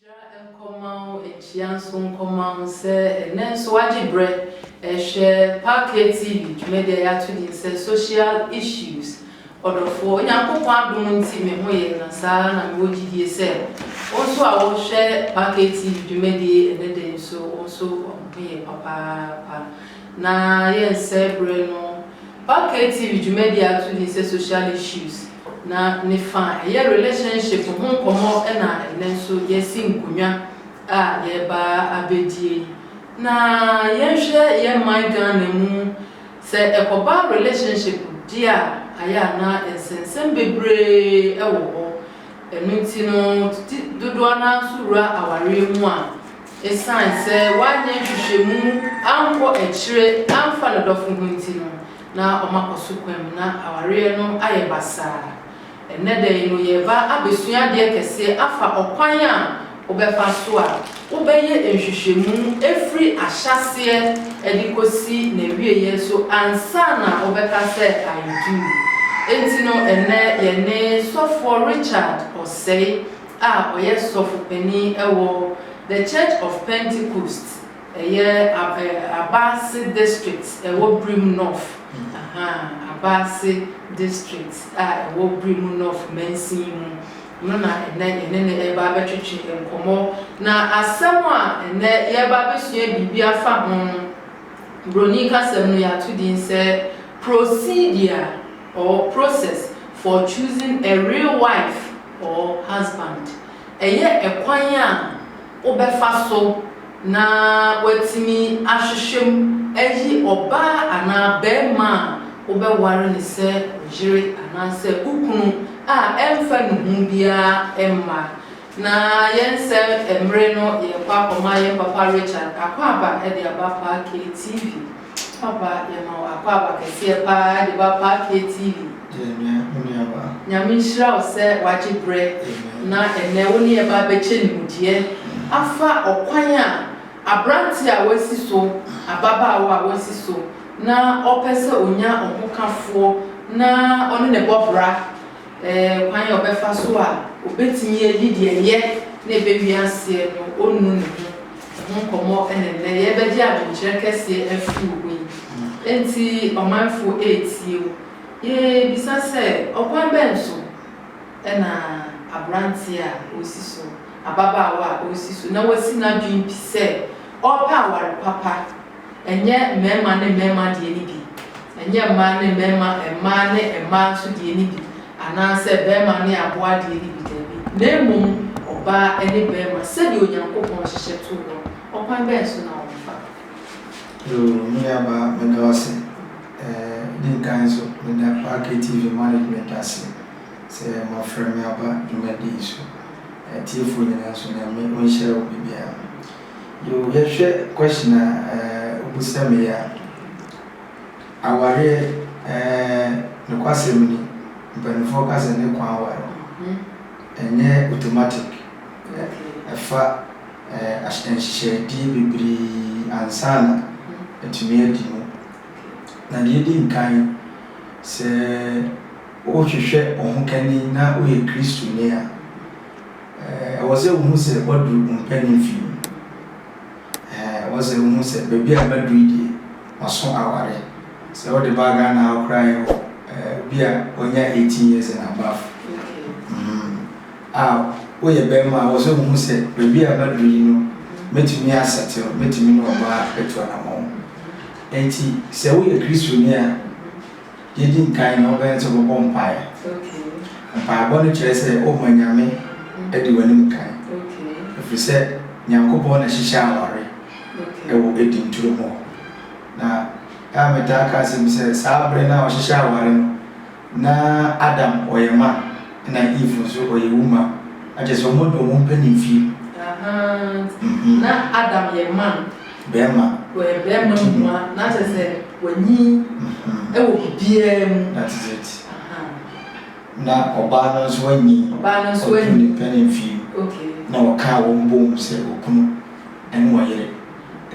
Nhyira nkɔma wo, nhyia nso nkɔma wo sɛ ɛnnɛ nso woagye berɛ rehwɛ Park Tv dwumadi a yɛato din sɛ Social Issues. Ɔdɔfoɔ, Onyankopɔn adom nti me ho yɛ nã saa ara na mewɔ gyidie sɛ wo nso a wohwɛ Parkay TV dwumadie yi ɛnnɛ da yi nso wo nso wo ho yɛ papaapa. Na yɛnsɛe berɛ no, Parkay TV dwumadie a ato din sɛ Social Issues na ne fa a ɛyɛ relationship ho nkɔmmɔ na ɛnnɛ nso yɛasi nkonnwa a yɛreba abɛdie na yɛnhwɛ yɛn man Ghana mu Sɛ ɛkɔba relationship deɛ a ayɛ a na nsɛnsɛm bebree wɔ hɔ, ɛno nti no tete dodoɔ no ara nso wura awareɛ mu a ɛsiane sɛ wanyɛ nhwehwɛmu ankɔ akyire amfa ne dɔfo ho nti no na wɔakɔ so kwam na awareɛ no ayɛ basaa. Ɛnnɛ da yi no yɛreba abɛsua adeɛ kɛseɛ afa ɔkwan a wobɛfa so a wobɛyɛ nhwehwɛmu firi ahyɛaseɛ de kɔsi n'awieɛ so ansa na wobɛka sɛ I do. Enti no ɛnnɛ yɛne Sɔfoɔ Richard Osei a ɔyɛ Sɔfo Panin wɔ The Church of Pentecost, Ɛyɛ Abase District ɛwɔ Birim North Abase District a ɛwɔ Birim North mansin mu no na ɛnnɛ yɛne no reba abɛtwetwe nkɔmmɔ. Na asɛm a ɛnnɛ yɛreba abɛsua biribi afa ho no, Buroni kasam no yɛato din sɛ Procedure or Process for Choosing a Real Wife or Husband. Ɛyɛ ɛkwan a wobɛfa so na woatumi ahwehwɛ mu ayi ɔbaa anaa barima a wobɛware no sɛ wo yere anaasɛ wo kunu a ɛmfa nnuho biara mma. Na yɛnsɛ mmere no, yɛrekɔ akɔma yɛn papa Richard akwaaba de aba Parkay TV. Papa yɛma wo akwaaba kɛseɛ paa de ba paa fie TV. Yɛnyɛ wo nuabaa. Nyame nhyira wo sɛ wagye berɛ na ɛnnɛ wo ne yɛ ba bɛkyɛ nimdeɛ afa ɔkwan a aberanteɛ a wasi so, ababaawa a wasi so na ɔpɛ sɛ ɔnya ɔhokafoɔ na ɔne no bɔ bra, ɛɛ kwan a ɔbɛfa so a ɔbɛtumi ayi deɛ ɛyɛ na ɛbɛwie aseɛ no ɔnnu ne ho. Ho nkɔmmɔ na nnɛ yɛrebɛgye adwenkyerɛ kɛseɛ afiri wo hɔ yi. Enti ɔmanfo retie wo. Yɛrebisa sɛ, ɔkwan bɛn so na aberanteɛ a ɔresi so, ababaawa a ɔresi so na wasi n'adwene pi sɛ ɔrepɛ aware papa Ɛnyɛ mmarima ne mmarima deɛ no bi, ɛnyɛ mmaa ne mmarima, mmaa ne mmaa nso deɛ no bi, anaasɛ barima ne aboa deɛ no bi, dabi, na mmom ɔbaa ne barima, sɛdeɛ Onyankopɔn hyehyɛ too hɔ no. Ɔkwan bɛn so na wɔfa? Yoo, me nuabaa, meda wo ase. Ɛɛ, di nkan nso, meda Clarke TV management ase sɛ moafrɛ me aba dwumadi yi so. Atiefoɔ nyinaa nso, Nyame ɔnhyira wo baabiara. Yoo yɛhwɛ question a wo bisa me yi a, awareɛ nokwasɛm ni mpaninfoɔ ka sɛ ne kwan aware ɛnyɛ automatic ɛfa nhyehyɛdeɛ bebree ansa na atumi adi mu. Na deɛ ɛdi nkan sɛ wohwehwɛ ɔhokani na woyɛ Kristoni a, Ɛwɔ sɛ wohu sɛ wɔaduru wo mpanin fie. Ɛwɔ sɛ wohu sɛ baabi a maduru yi deɛ, maso aware. Sɛ wode ba Ghana ha koraa a, yɛwɔ obi a wanya eighteen years and above. A woyɛ barima a, ɛwɔ sɛ wohu sɛ baabi a maduru yi no, mɛtumi asɛtew, mɛtumi ne ɔbaa atu anammɔn. Enti sɛ woyɛ Kristoni a, Deɛ ɛdi nkan no, wobɛyɛ ne sɛ wobɛbɔ mpaeɛ. Mpaebɔ no kyerɛ sɛ wohunu Nyame adi w'anim kan. Ɛfiri sɛ Nyankopɔn na hyehyɛ aware wɔ Eden turo mu hɔ. Na ɛa metaa ka asɛm bi sɛ, saa berɛ no a wɔhyehyɛ aware no, na Adam ɔyɛ man na Eve nso ɔyɛ wuma. Akyerɛ sɛ wɔn de wɔn mpɛ ne mfie. Ahaa, na Adam yɛ man. Bɛɛma. Wɔyɛ bɛɛma mua na kyɛ sɛ wanyin wɔ biribiara mu. That is it. Na ɔbaa no nso wanyin. Ɔbaa no nso wanyin. Ɔduru ne pɛ ne mfie. Okay. Na wɔkaa wɔn bom sɛ okunu ɛne ɔyere.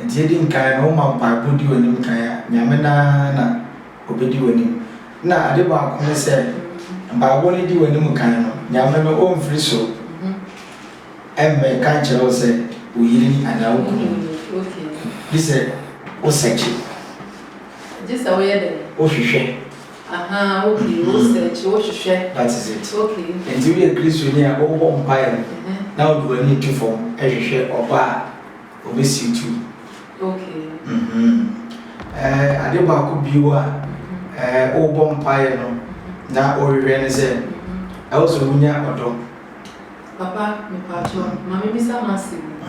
Nti edi nkan no woma mpaebɔ di w'anim kan a, Nyame no ara na obedi w'anim. Na ade baako ne sɛ mpaebɔ no di w'anim kan no, Nyame no ɔmfiri soro. Ɛmmɛka nkyerɛ wo sɛ wo yere ni anaa wo kunu ni, gye sɛ wo sɛkye. Gye sɛ wo yɛ dɛn? Wo hwehwɛ. Ahaa, okay, wo sɛkye, wo hwehwɛ. That is it. Okay. Enti wo yɛ Kristoni a, wo bɔ mpaeɛ na wo de w'ani to fam hwehwɛ ɔba a ɔbɛsiw tu. Okay. Mm-hmm. Ɛɛ, ade baako bio a, ɛɛ, wo bɔ mpaeɛ no na wo hwehwɛ ne sɛ, ɛwɔ sɛ wo nya ɔdɔ. Papa mepakyɛw ma me bisa mo asɛm bi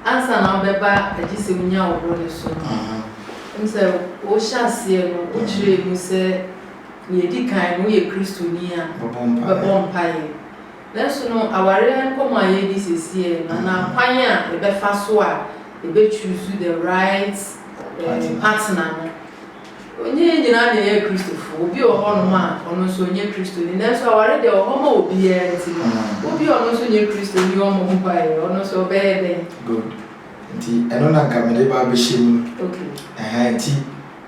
ansa na wo bɛba agye sɛ wo nya wo ho no so no wonim sɛ wo hyɛ aseɛ no wo kyerɛɛ mu sɛ nea ɛdi kan no wo yɛ kristoni a bɛbɔ mpaeɛ nanso no awareɛ nkɔmɔ a yɛdi sɛsiɛ no anaa kwan a yɛbɛfa so a yɛbɛ choose the right eh, partner no Ɔnnyɛ yɛn nyinaa na yɛyɛ Kristofo. Obi wɔ hɔnom a, ɔno nso ɔnnyɛ Kristoni. Nanso aware deɛ, ɛwɔ hɔ ma obiara, nti no, wo bi a ɔno nso nnyɛ Kristoni yi ɔmmɔ mpaeɛ, ɔno nso ɔbɛyɛ dɛn? Good. Nti ɛno na nka mede ba abɛhyɛ mu. Okay. Ɛhɛn, nti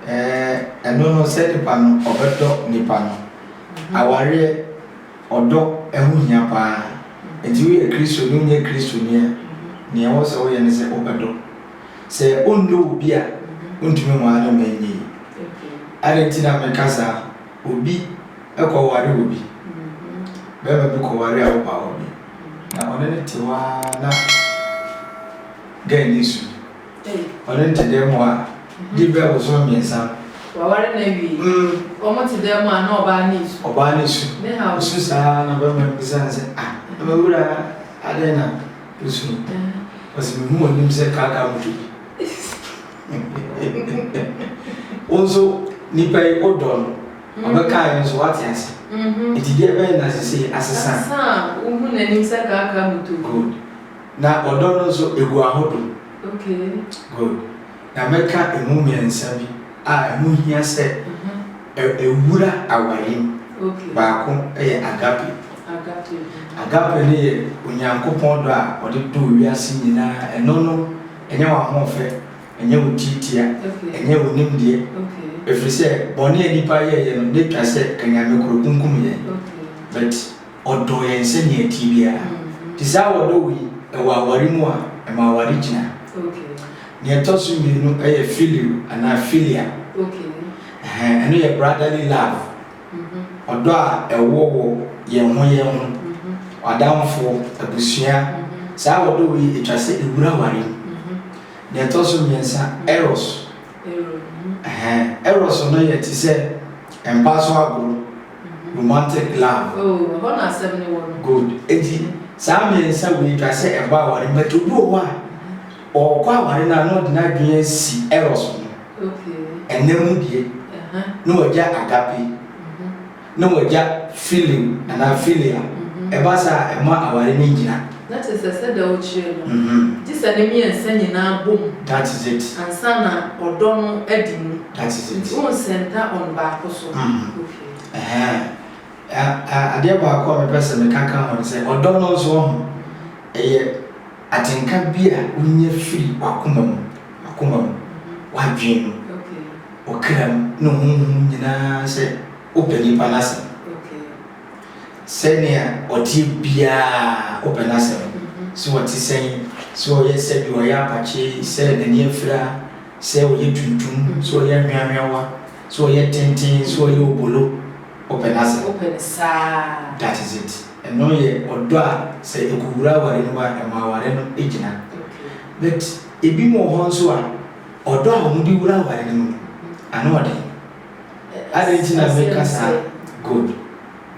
eh, ɛno no, sɛ nipa no ɔbɛdɔ nipa no. Awareɛ, ɔdɔ ɛho hia paa. Nti woyɛ Kristoni, wonyɛ Kristoni a, nea ɛwɔ sɛ woyɛ ne sɛ wobɛdɔ. Sɛ ɔnnɔ wo bi a, wontumi nware no ma ɛnyɛ yie. Adɛn nti na meka saa? Obi kɔware obi, barima bi kɔware awopaawa bi, na ɔne no te hɔ ara na girl no su. Ɔne no te dan mu hɔ a, di bɛ abosom mmiɛnsa no. Waware no awie. Mm. Wɔn te dan mu a na ɔbaa no resu. Ɔbaa no resu. Ne haw. Ɔsu saa na barima no bisa no sɛ, ah, me wura adɛn na. Yesu no, ɔse mehu w'anim sɛ kaakaa moto bi. Wo nso nipa yi wo dɔ no, ɔbɛkaa yɛ nso wate ase. Nti deɛ bɛyɛ na sese asesa. Asesa a wohu n'anim sɛ kaakaa moto bi. Good. Na ɔdɔ no nso egu ahodo. Okay. Good. Na mɛka emu mmiɛnsa bi a ɛho hia sɛ. Ɛwura awareɛ mu. Baako yɛ agape. Agape no yɛ Onyankopɔn dɔ a ɔde dɔ wiase nyinaa. Ɛno no, ɛnyɛ w'ahoɔfɛ, ɛnyɛ wo tiatia, ɛnyɛ wo nimdeɛ. Ɛfiri sɛ, bɔne a nnipa yɛeɛ no, na ɛtwa sɛ anyame korɔ kunkum yɛn. But ɔdɔ yɛn sɛdeɛ ɛteɛ biara. Nti saa a ɔdɔ wo yi, ɛwɔ aware mu a, ɛma aware gyina. Deɛ ɛtɔ so mmienu yɛ phileo anaa philia. Ɛhɛn, ɛno yɛ brotherly love, ɔdɔ a ɛwɔ wɔ yɛn ho yɛn ho, w'adamfoɔ, abusua, saa ɔdɔ wei ɛtwa sɛ ɛwura aware mu. Deɛ ɛtɔ so mmiɛnsa, eros, ɛhɛn, eros no yɛ te sɛ mpa so agorɔ, romantic love. Oh, ɛhɔ na asɛm no wɔ no. Good, enti saa mmiɛnsa wei ɛtwa sɛ ɛba aware mu, but obi wɔ hɔ a, Ɔɔkɔ aware no a na ɔde n'adwene asi Eros ho. Ɛnɛ mu deɛ, na wagya Agape, na wagya Phileo anaa Philia. Ɛba saa a, ɛmma aware no nnyina. That is it, sɛdeɛ wokyerɛ no. Gye sɛ ne mmiɛnsa nyinaa bom. That is it. Ansa na ɔdɔ no adi mu. That is it. Nti wo nsɛnta on baako so. Ɛhɛɛn. Adeɛ baako a mepɛ sɛ meka ka ho ne sɛ, ɔdɔ no nso, woahu, ɛyɛ. Atenka bi a wunya firi w'akoma mu, w'akoma mu, w'adwene mu, wo kra mu, ne honhom nyinaa sɛ wopɛ nipa no asɛm. Sɛnea ɔteɛ biara wopɛ n'asɛm, sɛ ɔte sɛn, sɛ ɔyɛ sɛ deɛ ɔyɛ apakye, sɛ n'ani afira, sɛ ɔyɛ tuntum, sɛ ɔyɛ anhweanhweawa, sɛ ɔyɛ tenten, sɛ ɔyɛ obolo, wopɛ n'asɛm. That is it. Ɛno yɛ ɔdɔ a sɛ ɛkɔwura aware no mu a, ɛma aware no gyina. But ɛbinom wɔ hɔ nso a, ɔdɔ a wɔde wura aware no mu no, ano ɔden. Adɛn nti na meka saa? Good.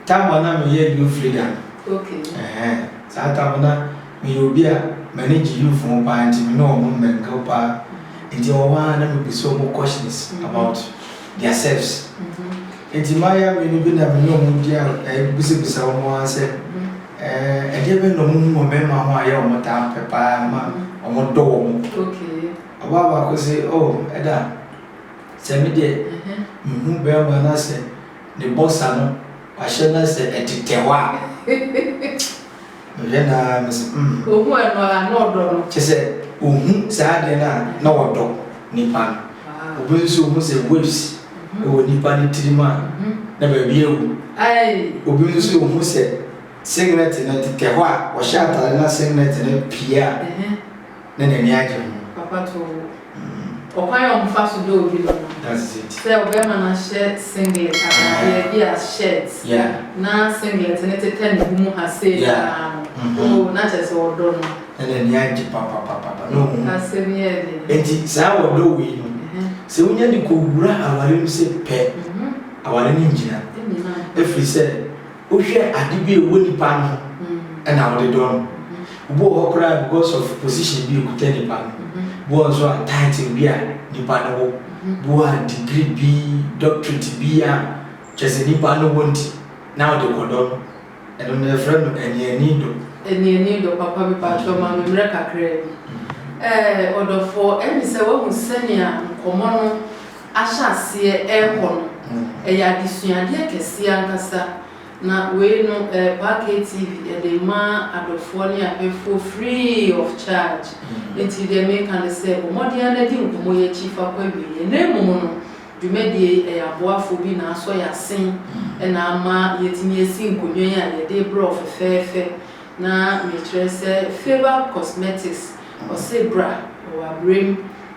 Time a na meyɛ youth leader no, ɛhɛn, saa time no na meyɛ obi a m'ani gye youth ho paa nti me ne wɔn mmɛnkaw paa. Nti ɛwɔ hɔ ara na mebisa wɔn questions about their selves. Enti m'ayare mmienu bi na me ne wɔn di abisabisa wɔn ara sɛ, Eh, ɛdeɛ bɛn na wɔhu wɔ mmarima ho a ɛyɛ wɔn taa pɛ paa ma wɔdɔ wɔn? Ɔbaa baako se, Oh, ɛda, sɛ me deɛ mehu barima na sɛ ne bɔsa no wahyɛ na sɛ ɛtetɛ hɔ a. Mehwɛ no ara me se mm. Ohu ɛno ara na ɔdɔ no. Kyɛ sɛ ohu saa adeɛ no a na ɔdɔ nipa no. Obi nso ohu sɛ waves wɔ nipa no tirim a na baabi awu. Obi nso ohu sɛ singlet no tetɛ hɔ a ɔhyɛ atare na singlet no pie a na n'ani agye ho. Ɔkwan a wɔfa so dɔ obi no no, sɛ ɔbarima no ahyɛ singlet ataadeɛ bi a shirt na singlet no tetɛ ne bo mu ha sei paa no, oh, na kyerɛ sɛ ɔdɔ no. Na n'ani agye papapapapa, na ɔhu. Asɛm yi yɛ den. Enti saa ɔdɔ wei no, sɛ wonya de kɔwura aware mu sɛ pɛ, aware no nnyina. Ɛfiri sɛ, Wohwɛ ade bi a ɛwɔ nipa no ho ɛna wode dɔ no. Ebi wɔ hɔ koraa because of position bi a ɔkuta nipa no. Ebi wɔ hɔ nso a title bi a nipa no wɔ. Ebi wɔ hɔ a degree bi, doctorate bi a kyerɛ sɛ nipa no wɔ nti na wode kɔ dɔ no. Ɛno no yɛfrɛ no aniani dɔ. Aniani dɔ, papa me pakyɛw ma me mmerɛ kakraa bi. Ɛɛ ɔdɔfoɔ, ɛne sɛ woahu sɛnea nkɔmmɔ no ahyɛ aseɛ rekɔ no, ɛyɛ adesuadeɛ kɛseɛ ankasa, na wei no ɛyɛ Park ATV ɛde rema adɔfoɔ ne ahwɛfoɔ free of charge, enti deɛ meka ne sɛ bɔ mmɔden ara na di nkɔmmɔ yi akyi fa kɔ awieɛ, na mmom no dwumadie yi ɛyɛ aboafoɔ bi na asɔ yɛn asen na ama yɛatumi asi nkonnwa yi a yɛde rebrɛ wo fɛfɛɛfɛ Na mekyerɛ sɛ Faber Cosmetics ɔse bra wɔ abrem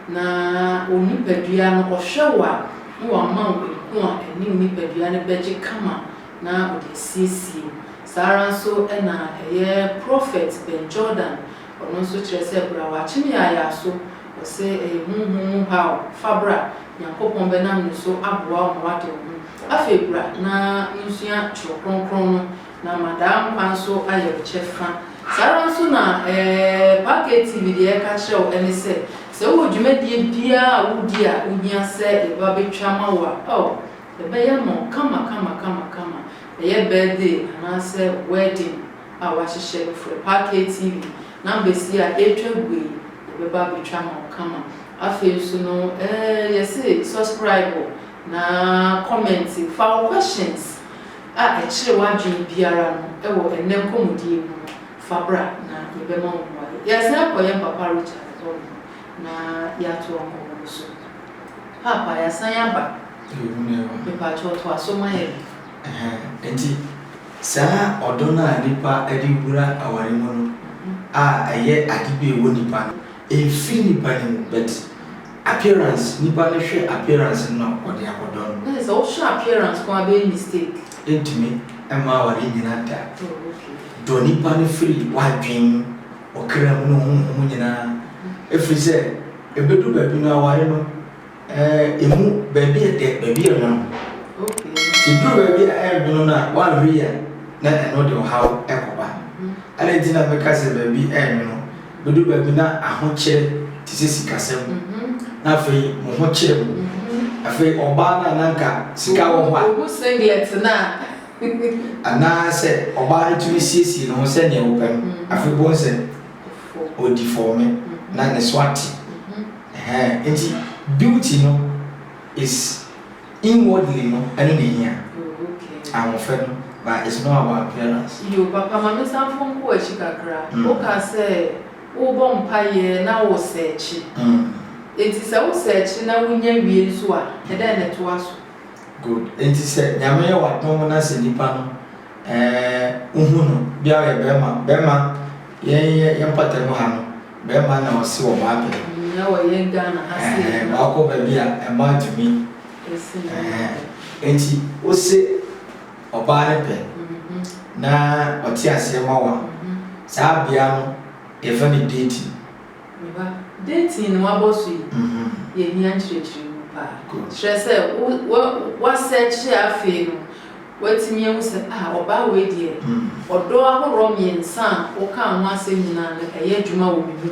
na wo nipadua no ɔhwɛ wo a na wama wo ehu a ɛne wo nipadua no bɛgye kama na ɔde asiesie wo. Saa ara nso na ɛyɛ Prɔfɛt Ben Jordan ɔno nso kyerɛ sɛ bra wɔ akyem yaayaa so ɔse ɛyɛ honhom mu haw fa bra Nyankopɔn bɛnam ne so aboa wo ma woade wo ho. Afei bra na wonsua twerɛ kronkron no Na ma daa nkwa nso ayɛ wo kyɛfa. Saa ara nso na Parker TV deɛ ɛreka akyerɛ wo ne sɛ, sɛ wowɔ dwumadie biara a wodi a wohia sɛ yɛba abɛtwa ama wo a, oh, yɛbɛyɛ ama wo kama kama kama kama. Ɛyɛ birthday anaasɛ wedding a wɔahyehyɛ no, frɛ Parker TV. Numbers yi a ɛretwa gu yi, yɛbɛba abɛtwa ama wo kama. Afei nso no, eh, yɛse subscribe na comment, fa wo questions a ɛkyere w'adwene biara no wɔ ɛnnɛ nkɔmmɔdie mu no, fa bra na yɛbɛma wo mmuaeɛ. Yɛasan akɔ yɛn papa Richard hɔ nom na yɛatoa nkɔmmɔ no so. Paapa, yɛasan aba. Yɛgu no aba. Mepakyɛw, toa so ma yɛn. Ɛhɛɛ, enti saa ɔdɔ no a nnipa de wura aware mu no a ɛyɛ ade bi a ɛwɔ nnipa no, ɛmfiri nnipa no mu, but Appearance nipa no hwɛ appearance no na ɔde akɔdɔ no. Nase sɛ wohwɛ appearance nko a bɛyɛ mistake. Ɛntumi mma aware nyina da. Oh ok. Dɔ nipa no firi w'adwen, ɔkra mu ne honhom nyinaa ɛfiri sɛ ɛbɛdu baabi no aware no ɛmu baabi ɛdɛ baabi ɛnwono. Ok. Nti ɛduru baabi a ɛnwono no a woanhwɛ yie a na ɛno de ɔhaw ɛkɔba. Adɛn nti na meka sɛ baabi ɛnwono Bedu baabi na ahokyere te sɛ sikasɛm, na afei mo ho kyere mo. Afei ɔbaa no a na anka sika wɔ hɔ a. Ohu singlet no a. Anaasɛ ɔbaa no tumi siesie ne ho sɛnea ɔpɛ no, afei bohu sɛ ɔdi fɔme na ne so ate. Ɛhɛɛ, enti beauty no is. Inwardly no ɛno na ehia. Oh okay. Ahoɔfɛ no but it's not about appearance. Yoo papa ma me san fon kɔ akyi kakra wo ka sɛ wo bɔ mpaeɛ na wo sɛɛkye enti sɛ wo sɛɛkye na wo nya wie nso a ɛdɛn na ɛtoa so. Good enti sɛ nyame yɛ wadom na sɛ nipa no. Ɛɛ wo hu no bia ɔyɛ bɛɛma bɛɛma yɛn yɛ yɛn pata mu ha no bɛɛma na ɔse ɔbaa pɛ. Nyina wɔ yɛn Ghana ha sei. Ɛɛ baa kɔ baabi a ɛmaa tumi ɛɛ nti wo se ɔbaa ne pɛ na ɔte aseɛ ma wo a saa bea no yɛfrɛ no dating. Me ba, dɛn nti na woabɔ so yi? Yehia nkyerɛkyerɛ mu paa. Kyerɛ sɛ, wo, woasɛɛkye a afei no woatumi ahu sɛ, ah, ɔbaa wei deɛ, ɔdɔ ahoroɔ mmiɛnsa a wokaa ho asɛm nyinaa no, ɛyɛ adwuma wɔ me mu.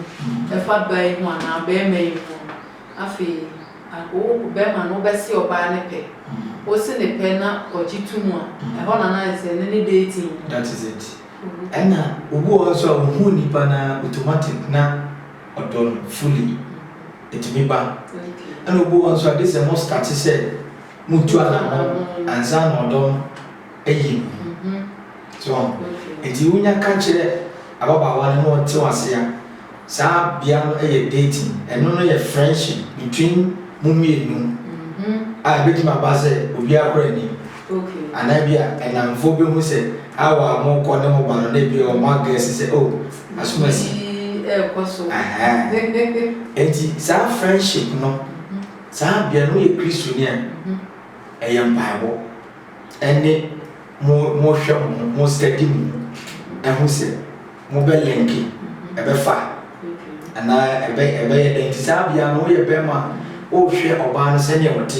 Ɛfa ɔbaa yi ho anaa ɔbarima yi ho no, afei wo, ɔbarima no, wobɛse ɔbaa no pɛ. Wose ne pɛ na ɔgye to mu a, ɛhɔ na na ayɛ sɛ ɛno ne dating no. That is it. Ɛna obi wɔ hɔ so a ohuu nipa na automatic na ɔdɔ no fully ɛtumi ba ɛna obi wɔ hɔ so a gye sɛ mo start sɛ mo tu anamɔn ansa na ɔdɔ no ayi no so nti wonya ka kyerɛ ababaawa no na ɔte wase a Saa bea no yɛ dating, ɛno no yɛ friendship between mo mmienu a ɛbɛtumi aba sɛ obiara kora nnim anaa bi a nnamfoɔ bɛhu sɛ how a morekɔ ne mo ba no na bi a wɔn agɛse sɛ oh asom asi. Enti saa friendship no, saa bea no woyɛ Kristoni a ɛyɛ mpaebɔ. ne mo mohwɛ mo ho mo study mo ho ho sɛ mobɛ linki ɛbɛfa anaa ɛbɛ ɛbɛyɛ dɛn nti saa bia no woyɛ bɛrima wohwɛ ɔbaa no sɛdeɛ ɔte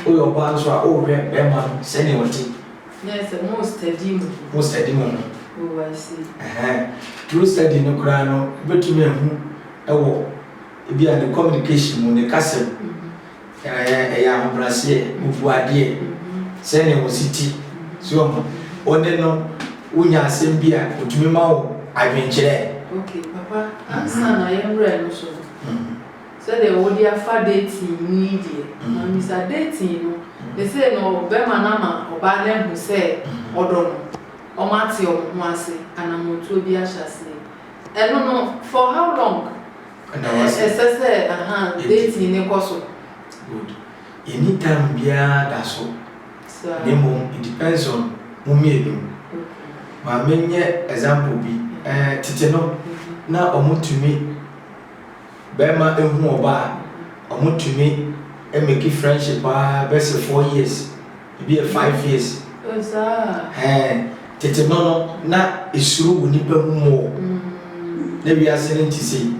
woyɛ ɔbaa no so a wohwɛ bɛrima no sɛdeɛ ɔte mo study mo ho mo study mo ho oh I see ɛhɛn through study no koraa no wobɛtumi ahu ɛwɔ ebi a ne communication mu ne kasɛm Ɛyɛ ɛyɛ ahobraseɛ, mebuu adeɛ sɛdeɛ wɔsi te, so wɔhu, wo ne no wo nya asɛm bi a ɔtumi ma wo adwenkyerɛ. Ok papa ansa na yɛn werɛ no so no sɛdeɛ wo de afa dating mu yi deɛ ma misa dating no sesei no bɛma no ama ɔbaa no ahu sɛ ɔdɔ no wɔn ate wɔn ho ase anamɔtuo bi ahyɛ aseɛ ɛno no for how long. Ɛda wo ase. Ɛsɛ sɛ aha dating no kɔ so. Good. Yɛnni time biara da so. Saa. Na mmom it depends on mo mmienu. Okay. Ma me nyɛ example bi. Eh, tete no, na ɔmo tumi, bɛɛma ehu ɔbaa a, ɔmo tumi make friendship aa bɛsɛ four years. Ebi yɛ five years. Oh saa. Ɛɛ tete no no na esuro wɔ nipa mu mu o. Na wiase no nti sei.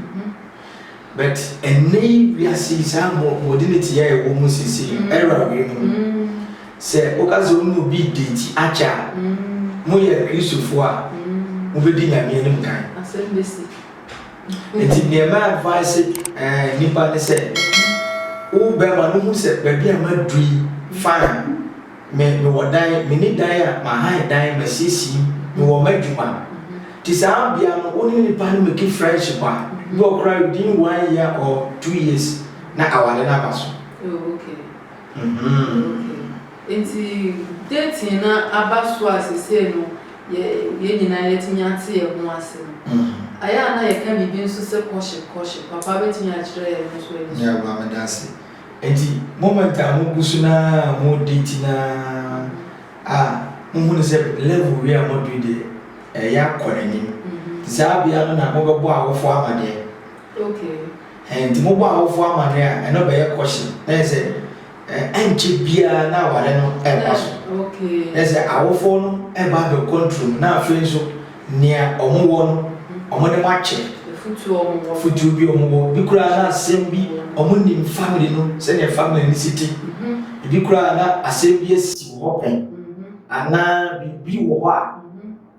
But ɛnɛ yi wiase yi saa mo modernity yɛ ɛwɔ mu sisi era wei mu. Sɛ woka sɛ wɔn obi date akyɛ a mo yɛ Kristofoɔ a mo bɛdi Nyame anim kan. Asɛm bɛsi. Nti deɛ mɛ advice nipa ne sɛ wo bɛma no hu sɛ baabi a maduru yi fine me mewɔ dan meni dan a mahan dan masiesie mu mewɔ madwuma nti saa bia no wo ne nipa no meki friendship a ebi wɔ koraa within one year or two years na aware no aba so. Oh okay. Mm-hmm. Okay. Nti dating no aba so a sesei no yɛ yɛn nyinaa yɛatumi ate yɛn ho ase no, ayɛ a na yɛka biribi nso sɛ courtship, courtship. Papa bɛtumi akyerɛ yɛn no nso ani so. Yɛaba, meda ase. Enti moment a mogu so no ara a modate no ara a, mohu no sɛ level wei a moadu yi deɛ, ɛreyɛ akɔ n'anim. Nti saa bea no na mobɛbɔ awofoɔ amaneɛ. Okay. Ɛɛ, nti mobɔ awofoɔ amaneɛ a, ɛno bɛyɛ courtship. Na ayɛ sɛ. Ankyɛ biara na aware no rekɔ so. Kyerɛ sɛ, awofo no reba abɛkɔ nturom, na afei nso nea wɔwɔ no, wɔde mo akyɛ. Afotuo bi a wɔwɔ, ebi koraa na asɛm bi, wɔnim family no, sɛdeɛ family no si te. Ebi koraa na asɛm bi asi wɔ hɔ pɛn, anaa biribi wɔ hɔ a,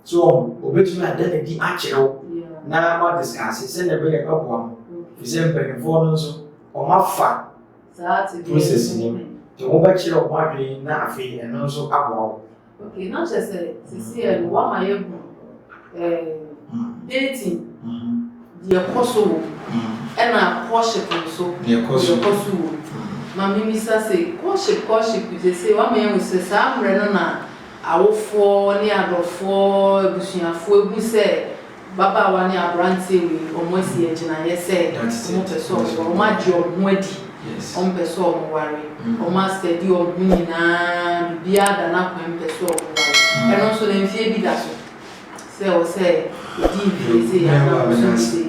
so wɔbɛtumi ada no adi akyerɛ wo na moadiskase sɛdeɛ ɛbɛyɛ ɛbɛboa mo. Ɛfiri sɛ, mpanimfoɔ no nso, wɔafa process nim nti wo bɛkyerɛ wo ho adwene na afei ɛno nso aboa wo. Okay, na kyerɛ sɛ sisi ɛ no wama yɛ gu dating deɛ kɔ so wɔ ɛna courtship nso deɛ kɔ so wɔ ma mimisa se courtship courtship sese wama yɛ hu sɛ saa mmerɛ no na awofoɔ ne adɔfoɔ abusuafoɔ ehu sɛ Mbabaawa ne aberantsɛ wei ɔmo asi agyinaeɛ sɛ ɔmo pɛ sɛ ɔmo ware, ɔmo agye ɔmo ho adi, ɔmo pɛ sɛ ɔmo ware, ɔmo a study ɔmo ho nyinaa, biribiara da n'akwan mu pɛ sɛ ɔmo ware. Ɛno nso no mfeɛ bi da so sɛ ɛwɔ sɛ odi mfeɛ sei anaa ɔso mfeɛ sei.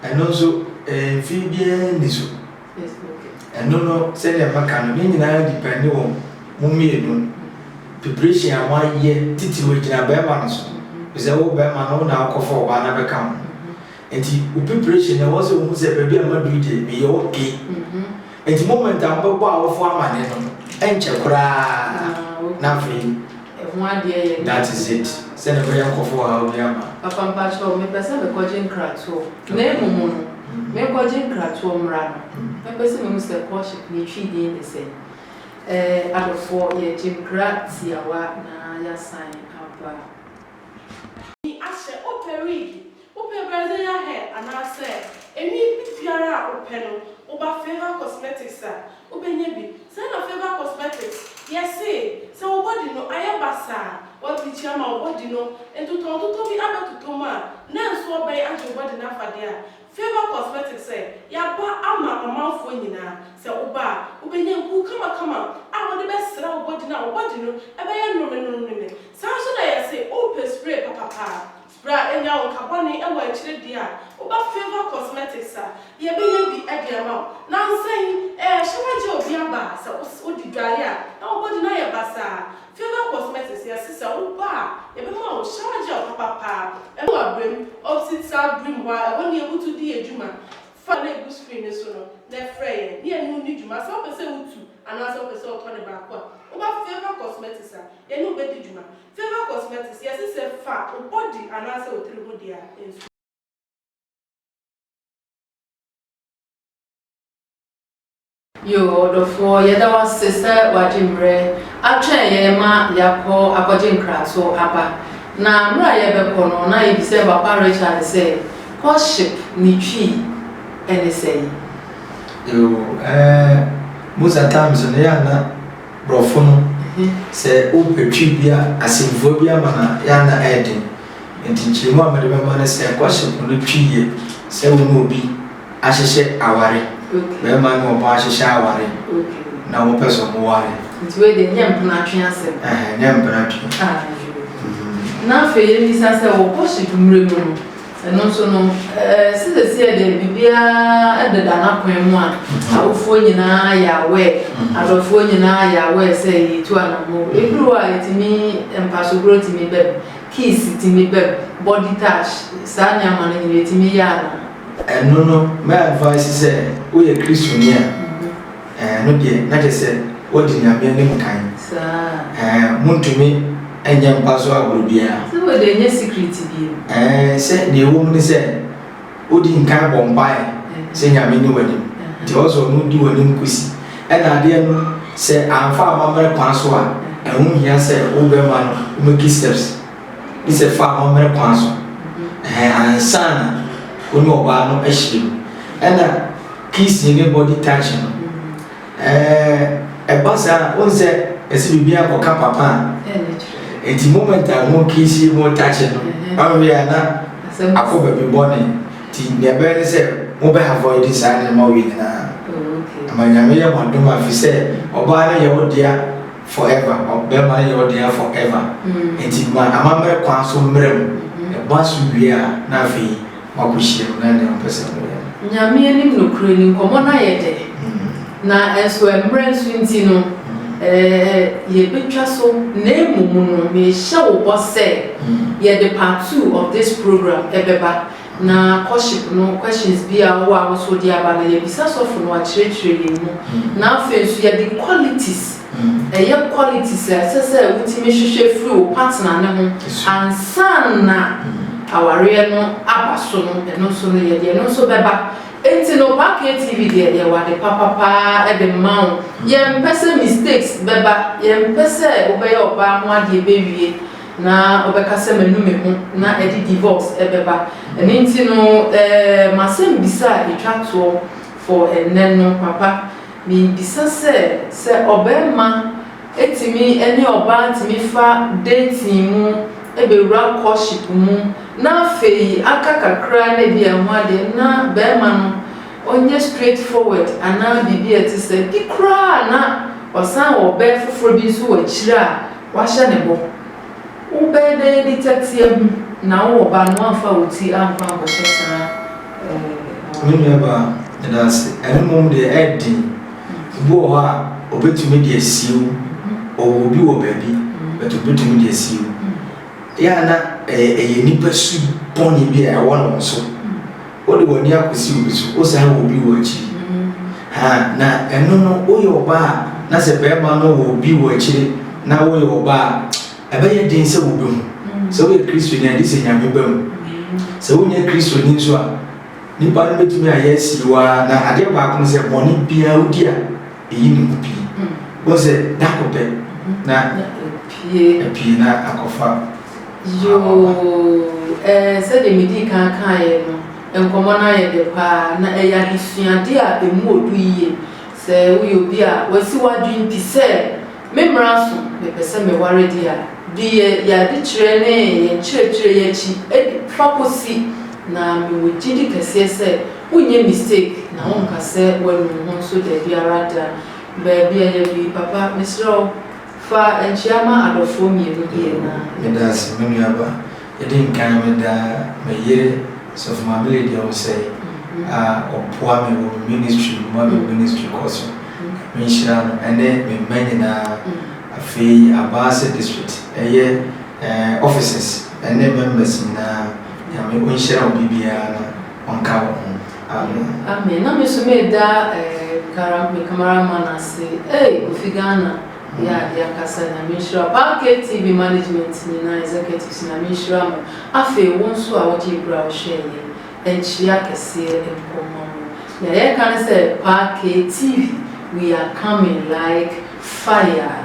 Ɛno nso mfeɛ biara nni so. Ɛno no sɛdeɛ maka no ne nyinaa depɛnde wɔ mo mmienu preparation a moayɛ titiriw agyina barima no so efisɛ wo barima no wo na wokɔfa ɔbaa no abɛka wo ho nti wo preparation no ɛwɔ sɛ wohu sɛ baabi a maduru deɛ meyɛ okay nti moment a mobɛbɔ awofo amane no ɛnkyɛ koraa na afei Ɛho adeɛ yɛ den. That is it. Sɛ ne bɛyɛ nkɔfo ɔhaw bi ama. Papa mpakyɛw me pɛ sɛ me kɔgye nkratoɔ na emu mu no me kɔgye nkratoɔ mmra no me pɛ sɛ me hu sɛ courtship ne twi din ne sɛn ɛɛ adɔfoɔ yɛ gye nkra tiawa na ya san aba. Ahyɛ opɛ wig Wopɛ Brazilian hair anaasɛ enwi bibiara a wopɛ no, woba Favour Cosmetics a, wobɛnya bi. Saa na Favour Cosmetics, yɛse, sɛ wo body no ayɛ basaa a, wɔablikyi ama wo body no, ntotɔntotɔ bi abɛtotɔ mu a, na nso wɔbɛn agye wo body no afa deɛ a, Favour Cosmetics sɛ, yɛaba ama ɔmanfoɔ nyinaa. Sɛ woba a, wobɛnya nku kamakama a wode bɛsra wo body no a wo body no bɛyɛ noromenoromenome. Saa nso na yɛse, wopɛ spray papapa a, Bra nya wo ka bɔne wɔ akyire deɛ a woba Favour Cosmetics a yɛbɛnya bi de ama wo. Nansa yi ɛɛ hyɛ na gye obi aba a sɛ wode dware a na wobɔdi no ayɛ basaa a Favour Cosmetics yɛse sɛ woba a yɛbɛma wo shower gel papa paa ɛwɔ abrɛm opsit saa brim hɔ a ɛhɔ ne yɛbutu di adwuma fa no a ɛgu screen no so no na frɛ yɛn ne yɛne wo nni dwuma sɛ wopɛ sɛ wotu anaasɛ wopɛ sɛ wotɔ no baako a woba Favour Cosmetics a yɛne wo bɛdi dwuma Favour Cosmetics, Yɛse sɛ fa wo body anaasɛ wo tiri ho dea nsu. Yoo ɔdɔfoɔ yɛda wo ase sɛ w'agye mmerɛ atwɛn yɛn ma yɛakɔ akɔgye nkrato aba. Na mmerɛ a yɛrebɛkɔ no na yɛbisɛɛ Papa Richard sɛ courtship ne twi ɛne sɛn? Yoo ɛɛ Musa Tam so no yɛ a na Borɔfo no, sɛ wopɛ Twi bi a, asɛmfua bi ama no a, ɛyɛ a na ɛyɛ den. Enti nkyerɛmu a mede bɛma ne sɛ, Kɔhye po no Twi yɛ sɛ wo ne obi ahyehyɛ aware, barima ne ɔbaa ahyehyɛ aware na wɔpɛ sɛ wɔware. Nti wei deɛ nyɛ mpenatwe asɛm. Ɛhɛ, nyɛ mpenatwe. Ayo. Na afei yɛmmisa sɛ, wɔ bɔhyɛ dumire mu no, Ɛno nso no, sɛ seesei deɛ biribiara deda n'akwan mu a, awofoɔ nyinaa yɛ aware, adɔfoɔ nyinaa yɛ aware sɛ yɛretu anamɔ. Ɛduru hɔ a, ɛtumi mpasokorɔ tumi bam, kiss tumi bam, body touch, saa nneɛma no nyinaa ɛtumi yɛ anamɔ. Ɛno no, mɛ advice sɛ woyɛ Kristoni a. Ɛno deɛ na kyerɛ sɛ wodi Nyame anim kan. Saa. Montumi nyɛ mpa so agorɔ biara. Sɛ wei deɛ ɛnyɛ secret bio. Sɛ nea ɛwɔ mu ne sɛ wodi nkan bɔ mpaeɛ sɛ Nyame nni w'anim. Nti ɔsɛ ɔno odi w'anim kosi. Ɛna adeɛ no sɛ amfa amammerɛ kwan so a, ɛho nhia sɛ wobɛma no, wobɛki steps. ne sɛ fa amammerɛ kwan so ɛhɛn ansa na wo ne ɔbaa no ahyia mu. Ɛna kissing ne body touch no, ɛɛ ɛba saa a, wohu sɛ ɛsɛ biribiara kɔka papa a, nti moment a mo kissing mo touch no, ɔnwe a na akɔ baabi bɔne. Nti nea ɛbɛyɛ ne sɛ mobɛ avoid saa nneɛma wei nyinaa. Ama Nyame yɛ mo adom a, ɛfiri sɛ ɔbaa no yɛ wo dea. Forever, ɔ, bɛrima no yɛ wo dea forever, enti ma amammerɛ kwan so mmerɛ mu, ɛba so wie a na afei moakɔ hyia mu na nea ɔpɛ sɛ moyɛ no. Nyame anim nokorɛ ni, nkɔmmɔ no ayɛ dɛ, na nso mmerɛ nso nti no, ɛ, yɛbɛtwa so, na mmom no mehyɛ wo bɔ sɛ yɛde part two of this program ɛbɛba. Na courtship no questions bi a ɔwɔ a wo so wode aba no yɛbisa sɔfo no wakyerɛkyerɛ yɛn mu. Na afei nso yɛde qualities, ɛyɛ qualities a ɛsɛ sɛ wotumi hwehwɛ firi wo partner no ho ansa na awareɛ no aba so no ɛno nso no yɛde ɛno nso bɛba. Enti no Ba KTV deɛ yɛwɔ ade papa paa de ma wo. Yɛmpɛ sɛ mistakes bɛba, yɛmpɛ sɛ wobɛyɛ ɔbaa ho adeɛ bɛwie. na ɔbɛka sɛ manu me ho na ɛde divorce ɛbɛba. Ɛno nti no eh, m'asɛmbisa a yɛtwa toɔ for ɛnnɛ no, papa, mebisa sɛ, sɛ ɔbarima tumi ne ɔbaa tumi fa dating mu bɛwura courtship mu na afei aka kakra na ebi a ɛho adeɛ na barima no ɔnyɛ straight forward anaa biribi a ɛte sɛ, bi koraa na wasan wɔ ɔbaa foforɔ bi nso wɔ akyire a, Wahyɛ ne bɔ. Wo bɛɛ bɛyɛ bi tɛteɛ ho na wo wɔ ba no woamfa wo ti ankɔ ankɔhyɛ saa ɛɛ Me nua baa, meda ase. Ɛno mmom deɛ ɛyɛ den. Ebi wɔ hɔ a ɔbɛtumi de asie wo. Ɔwɔ obi wɔ baabi but ɔbɛtumi de asie wo. Yɛ a na ɛyɛ ɛyɛ nipa su bɔne bi a ɛwɔ ne ho so. Wode w'ani akosi obi so, wosan wɔ obi wɔ akyiri. Ha, na ɛno no, woyɛ ɔbaa a, na sɛ barima no wɔ obi wɔ akyiri na woyɛ ɔbaa a, ɛbɛyɛ den sɛ wobehu. Sɛ woyɛ Kristoni a, gye sɛ Nyame ba mu. Sɛ wonyɛ Kristoni nso a, nnipa no betumi ayɛ asi wo ara. Na adeɛ baako ne sɛ, bɔne biara wodi a, eyi ne mu pii. Wohu sɛ, da koro pɛ na apue na akɔfa. Yoo, ɛɛ, sɛdeɛ medii kan kaeɛ no, nkɔmmɔ no ayɛ dɛ pa ara, na ɛyɛ adesuadeɛ a emu wɔ dɔ yie. Sɛ woyɛ obi a wasi w'adwene pi sɛ, Me mmara so, mepɛ sɛ meware deɛ a, di yɛn adekyerɛ ne yɛn nkyerɛkyerɛ yi akyi de fa kɔsi, na mewɔ gyidi kɛseɛ sɛ wonyɛ mistake na wonka sɛ woanu wo ho nso daabi ara da. Baabi a yɛadu yi, papa, mesrɛ wo. Fa nkyia ma adɔfoɔ mmienu bi anaa. Meda ase me nua ba. Edi nkan me da me yere Sɔfo Maame Lydia Osei a ɔboa me wɔ me ministry mu ma me ministry kɔ so. Nyame nhyira no ɛne me mma nyinaa. Afei Abaase district ɛyɛ eh offices ɛne members nyinaa Nyame onhyira obi biara na ɔnka wɔn ho. Amen. Amen na me so me da eh me camera man ase ei Kofi Ghana yɛ adeɛ ankasa Nyame nhyira wo paa KTV management nyinaa executives Nyame nhyira mo afei wo nso a wo gyee berɛ a wo hwɛɛ yɛ nkyia kɛseɛ nkɔ mma mo nea yɛ ka ne sɛ paa KTV we are coming like fire.